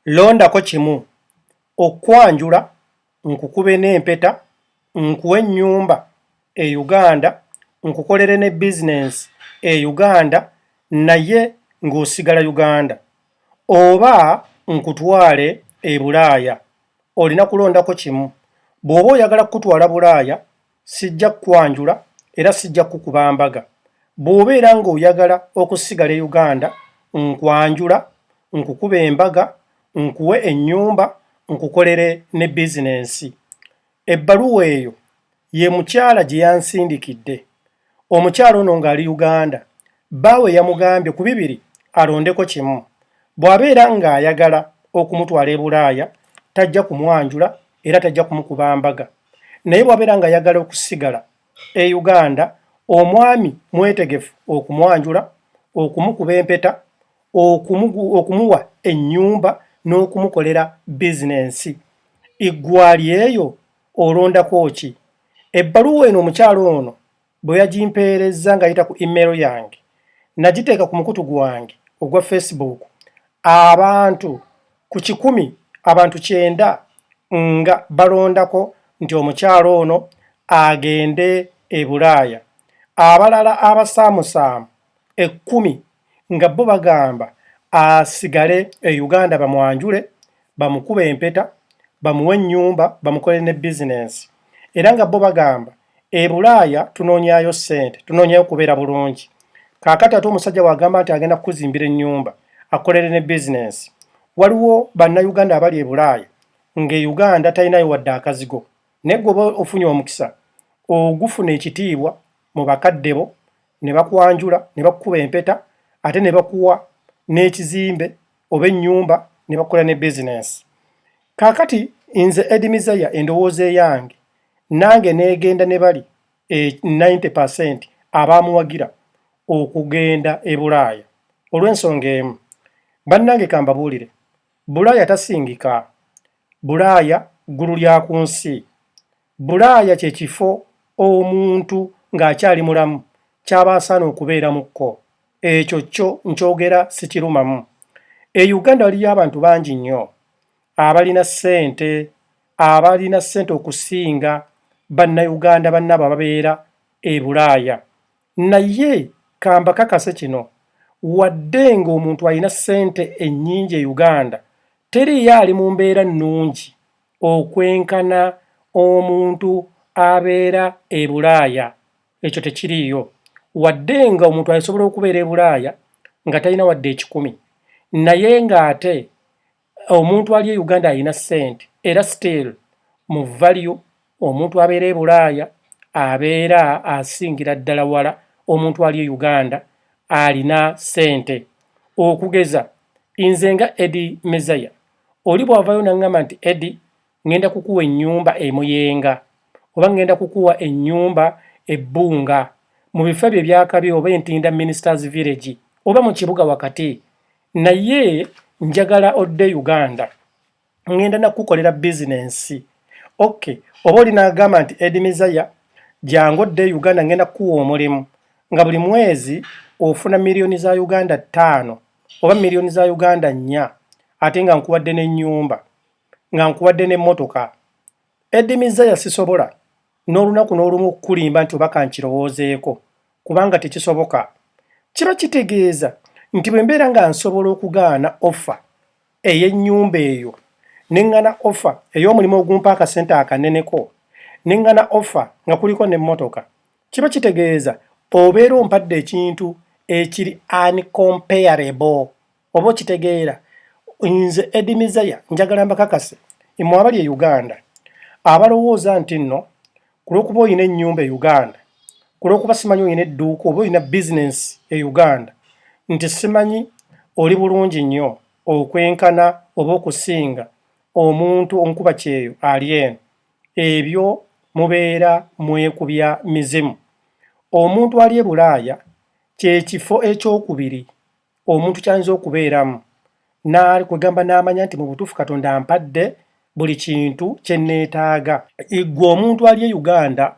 Londako kimu, Okukwanjula, nkukube n'empeta, nkuwe ennyumba e Uganda, nkukolere ne bizinensi e Uganda naye ng'osigala Uganda, oba nkutwale e Bulaaya. Olina kulondako kimu. Bw'oba oyagala kukutwala Bulaaya, Sijja kukwanjula era sijja kukuba mbaga. Bw'obeera ng'oyagala okusigala e Uganda, nkwanjula, nkukube embaga, nkuwe ennyumba, nkukolere ne bizinensi. Ebbaluwa eyo ye mukyala gye yansindikidde. Omukyala ono ng'ali Uganda, bbaawe yamugambye ku bibiri alondeko kimu. Bw'abeera ng'ayagala okumutwala e Bulaaya, tajja kumwanjula era tajja kumukuba mbaga. naye bwabeera nga yagala okusigala e Uganda omwami mwetegefu okumwanjula, okumukuba empeta, okumuwa ennyumba n'okumukolera bizinensi. Iggwali eyo olondako ki? Ebbaluwa eno omukyala ono bwe yagimpeerezza ng'ayita ku email yange, nagiteeka ku mukutu gwange ogwa Facebook abantu ku kikumi abantu kyenda nga balondako nti omukyala ono agende e Bulaaya. Abalala abasaamusaamu ekkumi nga bbo bagamba asigale e Uganda bamwanjule, bamukube empeta, bamuwe ennyumba, bamukolere ne bizinensi era nga bbo bagamba e Bulaaya tunoonyaayo ssente, tunoonyaayo kubeera bulungi. Kaakati ate omusajja w'agamba nti agenda kukuzimbira ennyumba, akukolere ne bizinensi. Waliwo Bannayuganda abali e Bulaaya ng'e Uganda talinayo wadde akazigo naye gwe oba ofunye omukisa ogufuna ekitiibwa mu bakadde bo ne bakwanjula ne bakukuba empeta ate ne bakuwa n'ekizimbe oba ennyumba ne bakola ne bizinensi. Kaakati nze Edi Mizaya endowooza eyange nange neegenda ne bali e 90 percent abaamuwagira okugenda e Bulaaya olw'ensonga emu. Bannange kambabuulire, Bulaaya tasingika. Bulaaya ggulu lya ku nsi. Bulaaya kye kifo omuntu ng'akyali mulamu ky'aba asaana okubeeramukko. Ekyo kyo nkyogera sikirumamu. E Uganda waliyo abantu bangi nnyo abalina ssente abalina ssente okusinga Bannayuganda bannaabwe ababeera e Bulaaya. Naye ka mbakakase kino, wadde ng'omuntu alina ssente ennyingi e Uganda, teriiyo ali mu mbeera nnungi okwenkana omuntu abeera e Bulaaya, ekyo tekiriiyo. Wadde ng'omuntu asobola okubeera e Bulaaya nga talina wadde ekikumi naye ng'ate omuntu ali e Uganda alina ssente era still mu value omuntu abeera e Bulaaya abeera asingira ddala wala omuntu ali e Uganda alina ssente. Okugeza nze nga Eddie Mezaya. Oli bwavayo nangamba nti Eddy ngenda kukuwa enyumba emuyenga oba ngenda kukuwa enyumba ebbunga mu bifo ebyo ebyakabi oba entinda ministers village oba mu kibuga wakati naye njagala odde Uganda ngenda nakukolera bizinensi ok oba oli nagamba nti Eddy Mizaya jangu odde Uganda ngenda kukuwa omulimu nga buli mwezi ofuna miliyoni za Uganda ttaano oba million za Uganda nnya ate nga nkuwadde ne nyumba nga nkuwadde ne motoka Eddie Mizaya sisobola n'olunaku n'olumu okukulimba nti oba kankirowoozeeko kubanga tekisoboka kiba kitegeeza nti bwe mbeera nga nsobola okugaana offa ey'ennyumba eyo ne ŋŋana offa ey'omulimu ogumpa akasente akaneneko ne ŋŋana offa nga kuliko n'emmotoka Kiba kitegeeza obeera ompadde ekintu ekiri uncomparable oba okitegeera nze Eddie Mizaya njagala mbakakase imwe abali e Uganda abalowooza nti nno ku lw'okuba olina ennyumba e Uganda ku lw'okuba simanyi olina edduuka oba olina bizinensi e Uganda nti simanyi oli bulungi nnyo okwenkana oba okusinga omuntu omukuba kyeyo ali eno Ebyo mubeera mwekubya mizimu. Omuntu ali e Bulaaya kye kifo eky'okubiri omuntu ky'ayinza okubeeramu na kwegamba n'amanya nti mu butuufu Katonda ampadde buli kintu kye nneetaaga. Ggwe omuntu ali e Uganda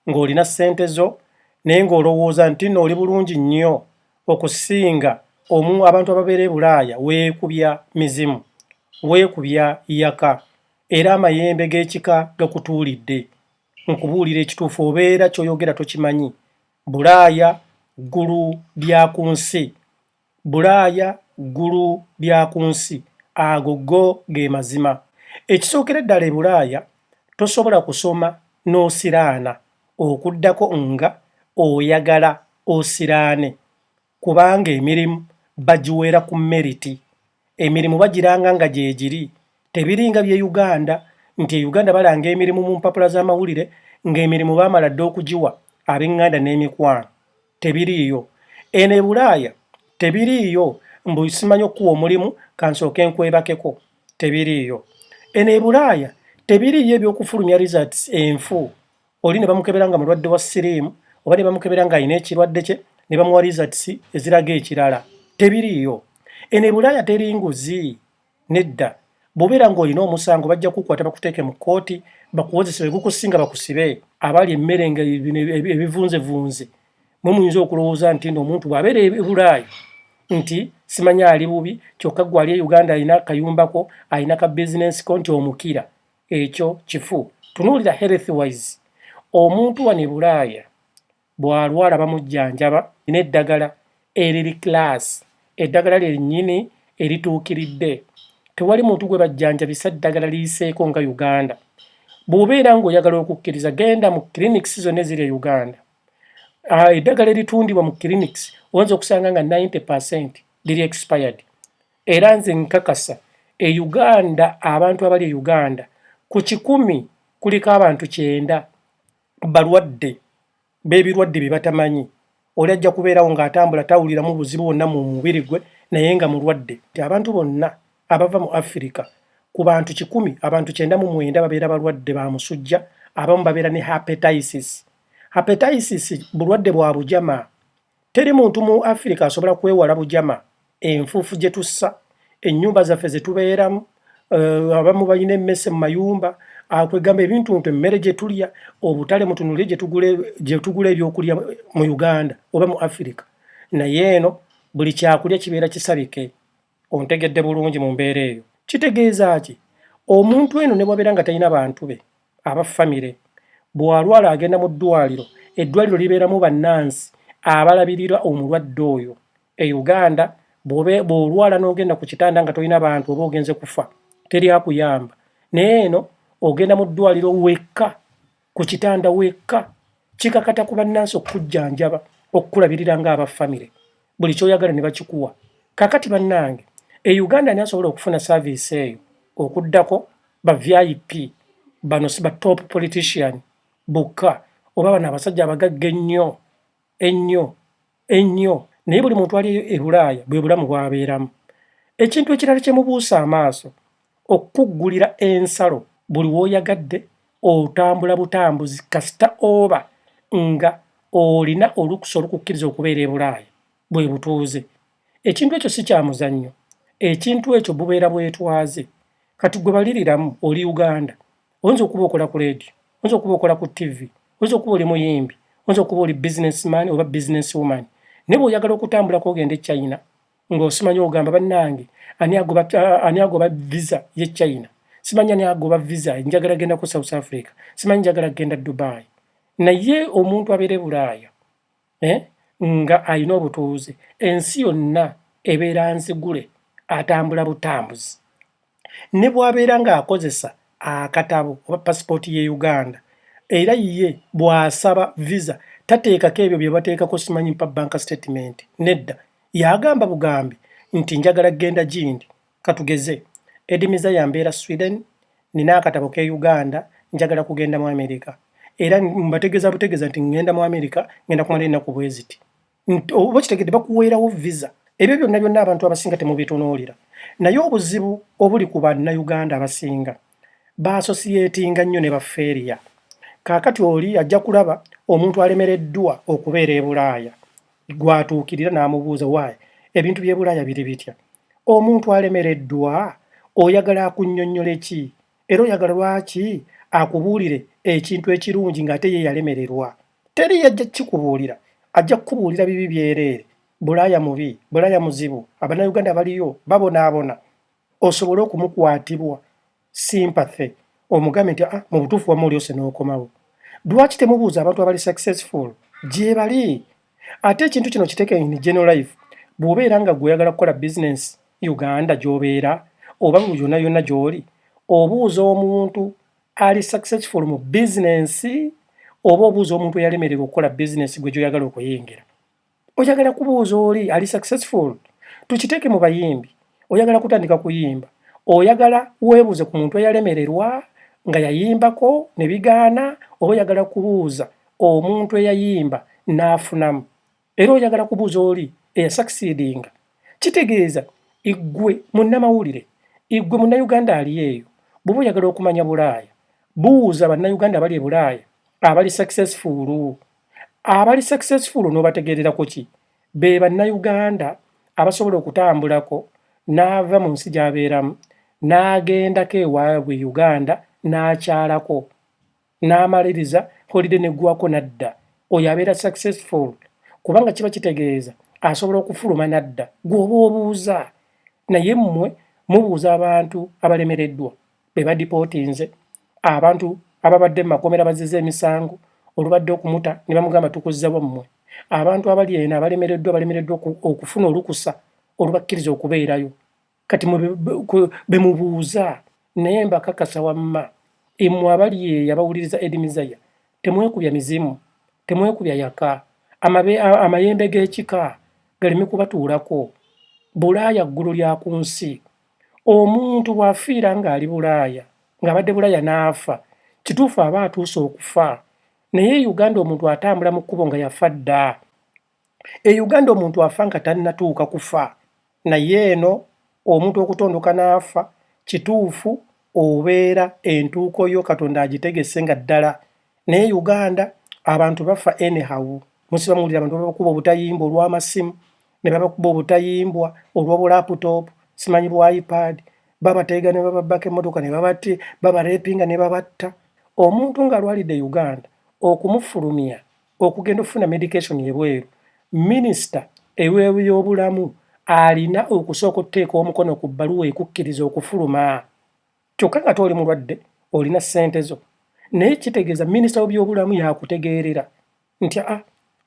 ng'olina ssente zo naye ng'olowooza nti nno oli bulungi nnyo okusinga omu abantu ababeera e Bulaaya, weekubya mizimu, weekubya yaka. era amayembe g'ekika gakutuulidde. Nkubuulire ekituufu obeera ky'oyogera tokimanyi. Bulaaya ggulu lya ku nsi. Bulaaya ggulu lya ku nsi. Ago go ge mazima. Ekisookere ddala e Bulaaya tosobola kusoma n'osiraana okuddako nga oyagala osiraane. kubanga emirimu bagiweera ku meriti, emirimu bagiranga nga gyegiri, tebiringa bye Uganda nti e Uganda balanga emirimu mu mpapula z'amawulire nga emirimu baamala dda okugiwa abenganda n'emikwano, tebiriiyo eno e Bulaaya, tebiriiyo mbu simanyi okukuwa omulimu kansooke nkwebakeko, tebiriiyo eno e Bulaaya, tebiriiyo eby'okufulumya results enfu oli ne bamukebera nga mulwadde wa siriimu oba ne bamukebera ng'alina ekirwadde kye ne bamuwa rizatisi eziraga ekirala tebiriiyo eno ebulaaya teri nguzi nedda bw'obeera ng'olina omusango bajja kukwata bakuteeke mu kkooti bakuwozese wegukusinga bakusibe abali emmere nga ebivunzevunze mwe muyinza okulowooza nti no omuntu bw'abeera ebulaaya nti simanya ali bubi kyokka gwe ali e uganda alina akayumbako alina ka bizinensi ko nti omukira ekyo kifu tunuulira health wise omuntu wano ebulaaya bwalwala bamujjanjaba neddagala eriri class eddagala lyennyini erituukiridde tewali muntu gwe bajjanjabisa ddagala liyiseeko nga uganda bw'obeera ng'oyagala okukkiriza genda mu clinics zonna eziri e uganda ah, eddagala eritundibwa mu clinics oyinza okusanga nga 90 percent liri expired Era nze nkakasa e Uganda abantu abali e Uganda ku kikumi kuliko abantu kyenda balwadde b'ebirwadde bye batamanyi. Oli ajja kubeerawo ng'atambula tawuliramu buzibu bwonna mu mubiri gwe naye nga mulwadde. Nti abantu bonna abava mu Afirika ku bantu kikumi abantu kyenda mu mwenda babeera balwadde ba musujja, abamu babeera ne hepatitis. Hepatitis bulwadde bwa bujama. Teri muntu mu Afirika asobola kwewala bujama, enfuufu gye tussa, ennyumba zaffe ze tubeeramu, eh, abamu balina emmese mu mayumba, ah, kwegamba ebintu nti emmere gye tulya, obutale mutunulire gye tugula ebyokulya mu Uganda oba mu Afirika. Naye eno buli kyakulya kibeera kisabike. Ontegedde bulungi mu mbeera eyo. Kitegeeza ki? Omuntu eno ne bwabeera nga talina bantu be aba famire, bw'alwala agenda mu ddwaliro, eddwaliro libeeramu bannansi abalabirira omulwadde oyo. E Uganda bw'olwala n'ogenda ku kitanda nga tolina bantu oba ogenze kufa, teri akuyamba. Naye eno ogenda mu ddwaliro wekka. ku kitanda wekka kikakata ku bannansi okukujjanjaba okukulabirira ng'aba famire buli kyoyagala ne bakikuwa kakati bannange e uganda ani asobola okufuna saaviisi eyo okuddako ba vip bano si ba top politician bokka oba bano abasajja abagagga ennyo ennyo ennyo naye buli muntu ali e bulaaya bwe bulamu bwabeeramu ekintu ekirala kye mubuusa amaaso okukuggulira ensalo buli w'oyagadde otambula butambuzi kasita oba nga olina olukusa olukukkiriza okubeera e bulaaya bwe butuuze ekintu ekyo si kya muzannyo ekintu ekyo bubeera bwetwaze kati gwe baliriramu oli uganda oyinza okuba okola ku leediyo oyinza okuba okola ku ttivi oyinza okuba oli muyimbi oyinza okuba oli businessman oba business woman naye bweoyagala okutambulako ogenda e china ng'osimanyi ogamba bannange ani agoba visa ye china simanyi ani agoba visa njagala genda ku south africa simanyi njagala kugenda dubai naye omuntu abeere bulaaya eh, nga alina obutuuze ensi yonna ebeera nzigule atambula butambuzi ne bw'abeera ng'akozesa akatabo oba pasipooti y'e uganda era ye bw'asaba visa tateekako ebyo bye bateekako simanyi mpa banka sitatimenti nedda yagamba bugambi nti njagala kgenda gindi Katugeze, Eddie Mizaya mbeera Sweden, nina akatabo k'e Uganda, njagala kugenda mu Amerika. Era mbategeeza butegeeza nti ngenda mu Amerika, ngenda kumala ennaku bwe ziti. Oba okitegedde bakuweerawo visa. Ebyo byonna byonna abantu abasinga temubitunuulira. Naye obuzibu obuli ku Bannayuganda abasinga, baasosiyeetinga nnyo ne bafeeriya. Kaakati oli ajja kulaba omuntu alemereddwa okubeera e Bulaaya gw'atuukirira n'amubuuza waayi ebintu by'e Bulaaya biri bitya? Omuntu alemereddwa oyagala akunnyonnyole ki? Era oyagala lwaki akubuulire ekintu ekirungi ng'ate ye yalemererwa? Teri yajja kukikubuulira, ajja kukubuulira bibi byereere. Bulaaya mubi, Bulaaya muzibu, Abannayuganda baliyo babonaabona osobole okumukwatibwa. sympathy omugambe nti ah, mu butuufu wamma olyose n'okomawo lwaki temubuuza abantu abali successful gyebali ate ekintu kino kiteeke in general life bw'obeera nga gwe oyagala kukola business uganda gy'obeera oba mu yonna yonna gy'oli obuuza omuntu ali successful mu business oba obuuza omuntu eyalemererwa okukola business gwe gy'oyagala okuyingira oyagala kubuuza oli ali successful tukiteeke mu bayimbi oyagala kutandika kuyimba oyagala weebuuze ku muntu eyalemererwa nga yayimbako ne bigaana oba oyagala kubuuza omuntu eyayimba n'afunamu era oyagala kubuuza oli eyasakisidinga kitegeeza iggwe munnamawulire iggwe munnayuganda ali eyo bw'oba oyagala okumanya bulaaya buuza bannayuganda abali e bulaaya abali successfulu abali successful onobategererako ki be bannayuganda abasobola okutambulako n'ava mu nsi gy'abeeramu n'agendako ewaabwe uganda n'akyalako n'amaliriza holide neggwako n'adda oyo abeera successful kubanga kiba kitegeeza asobola okufuluma n'adda gweoba obuuza naye mmwe mubuuza abantu abalemereddwa be badipootinze abantu ababadde mu makomera bazize emisango olubadde okumuta ne bamugamba tukuzza wammwe abantu abali eno abalemereddwa balemereddwa okufuna olukusa olubakkiriza okubeerayo kati bemubuuza naye mbakakasa wamma emwe abali eyo abawuliriza edimizaya temwekubya mizimu temwekubya yaka amayembe g'ekika galeme kubatuulako bulaaya ggulu lya ku nsi Omuntu bw'afiira ng'ali Bulaaya, ng'abadde Bulaaya n'afa, kituufu aba atuuse okufa. Naye e Uganda omuntu atambula mu kkubo nga yafa dda. E Uganda omuntu afa nga tannatuuka kufa. Naye eno omuntu okutondoka n'afa, kituufu obeera entuuko yo Katonda agitegese nga ddala. Naye e Uganda abantu bafa anyhow. Musiba muwulira abantu bakuba obutayimba olw'amasimu, ne babakuba obutayimbwa olwa bu laptop simanyi bu ipad babateega ne bababbako emmotoka ne babatte babarepinga ne babatta omuntu ng'alwalidde uganda okumufulumya okugenda okufuna medication ebweru minisita ewebyobulamu alina okusooka okuteeka omukono ku bbaluwa ekukkiriza okufuluma kyokka nga tooli mulwadde olina ssente zo naye kitegeeza minisita w'ebyobulamu yakutegeerera nti a ah,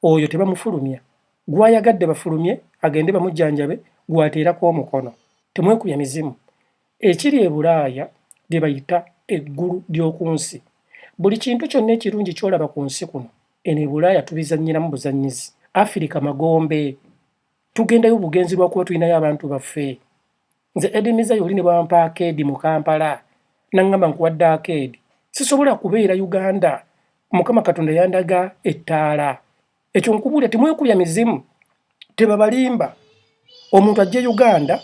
oyo tebamufulumya gwayagadde bafulumye agende bamujjanjabe gwateerako omukono temwekuya mizimu ekiri ebulaaya lye bayita eggulu ly'oku nsi buli kintu kyonna ekirungi kyolaba ku nsi kuno eno ebulaaya tubizannyiramu buzannyizi afirika magombe tugendayo bugenzi lwakuba tulinayo abantu baffe Nze Eddy Miza yoli ne bwampa akeedi mu Kampala nangamba nkuwadde akeedi sisobola kubeera Uganda mukama katonda yandaga ettaala ekyo nkubuulira temwekubya mizimu tebabalimba omuntu ajja e Uganda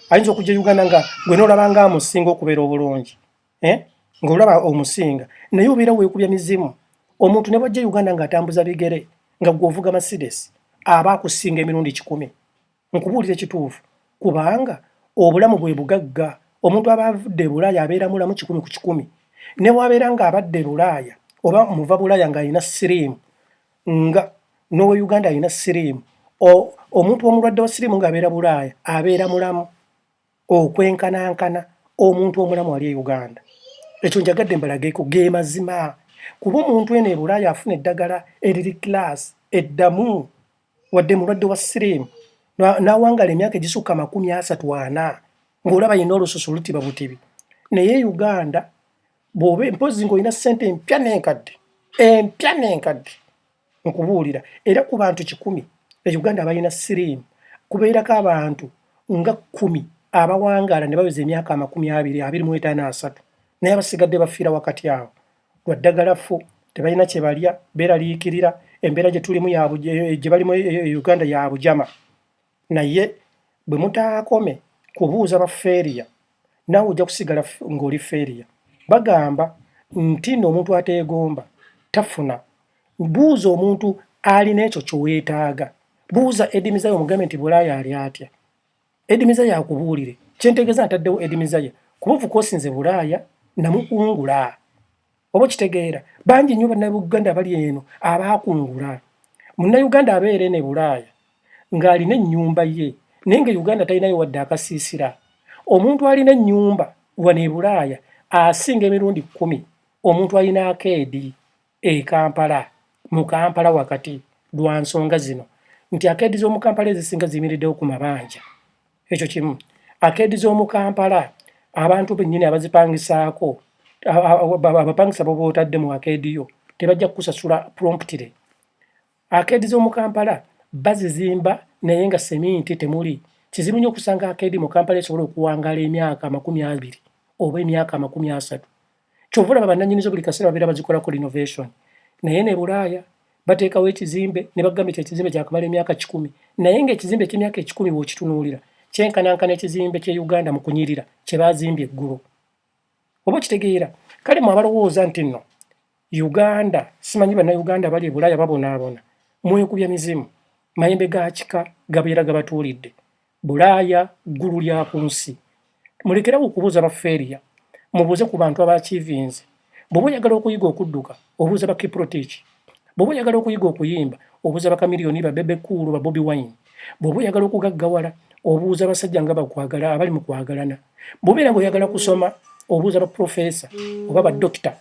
ayinza okujja e Uganda nga gwe nolaba nga amusinga okubeera obulungi eh? nga olaba omusinga naye obeera weekubya mizimu omuntu ne bwajja e Uganda ng'atambuza bigere nga gwe ovuga Mercedes aba akusinga emirundi kikumi nkubuulira ekituufu kubanga obulamu bwe bugagga omuntu aba avudde ebulaaya abeera mulamu kikumi ku kikumi newabeera nga abadde ebulaaya oba muva bulaaya ng'alina siriimu nga nowe uganda alina siriimu omuntu omulwadde wa siriimu ng'abeera bulaaya abeera mulamu okwenkanankana omuntu omulamu ali e Uganda. Ekyo njagadde mbalageko ge mazima kuba omuntu eno e Bulaaya afuna eddagala eriri class eddamu wadde mulwadde wa siriimu n'awangala emyaka egisukka amakumi asatu ana ng'olaba yenna olususu lutiba butibi naye e Uganda bw'oba mpozzi ng'olina ssente empya n'enkadde empya n'enkadde. nkubuulira era ku bantu kikumi e uganda abalina siriimu kubeerako abantu nga kkumi abawangaala ne baweza emyaka amakumi abiri abiri mu etaano asatu naye abasigadde bafiira wakati awo lwa ddagala ffu tebalina kye balya beeraliikirira embeera gye tulimu gye balimu e, e, e uganda ya bujama Naye bwe mutaakome kubuuza ba failure, naawe ojja kusigala ng'oli failure. Bagamba nti no omuntu ateegomba tafuna. Buuza omuntu alina ekyo kyoweetaaga. Buuza Eddy Mizaya omugambe nti Bulaaya ali atya. Eddy Mizaya akubuulire. Kyentegeeza ntaddewo Eddy Mizaya kuba ofuka osinze Bulaaya namukungula. oba okitegeera bangi nnyo bannayuganda abali eno abaakungula munnayuganda abeera eno e bulaaya ng'alina ennyumba ye naye nga uganda talinayo wadde akasiisira omuntu alina ennyumba wano e bulaaya asinga emirundi kkumi omuntu alina akeedi e kampala mu kampala wakati lwa nsonga zino nti akeedi z'omu kampala ezisinga ziyimiriddewo ku mabanja ekyo kimu akeedi z'omu kampala abantu bennyini abazipangisaako abapangisa boba otadde mu akeedi yo tebajja kukusasula promptire akeedi z'omu kampala bazizimba naye nga seminti temuli kizibu nnyo okusanga akeedi mu kampala esobola okuwangaala emyaka amakumi abiri oba emyaka amakumi asatu kyova olaba bananyinizo buli kaseera babeera bazikolako renovation naye ne bulaaya bateekawo ekizimbe ne bagamba ekyo ekizimbe kyakamala emyaka kikumi naye ngaekizimbe ekyemyaka ekikumi wokitunuulira kyenkanankana ekizimbe kye uganda mu kunyirira kye bazimbye eggulu oba okitegeera kale mwe abalowooza nti nno uganda simanyi bannauganda abali ebulaaya babonaabona mwekubya mizimu mayembe gakika gabeera gabatuulidde Bulaaya ggulu lya ku nsi. Mulekerawo okubuuza ba Feria, mubuuze ku bantu abakyivinze. Bwoba oyagala okuyiga okudduka, obuuza ba Kiprotich. Bwoba oyagala okuyiga okuyimba, obuuza ba Chameleone, ba Bebe Cool, ba Bobi Wine. Bwoba oyagala okugaggawala, obuuza abasajja nga bakwagala abali mu kwagalana. Bwobeera nga oyagala kusoma, obuuza ba Professor oba ba Doctor.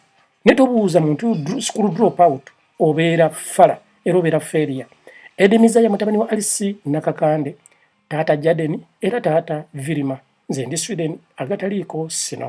ne tobuuza muntu school drop out obeera fala era obeera feria edimiza ya mutabani wa alisi nakakande taata jadeni era taata virima nze ndi sweden agataliiko sino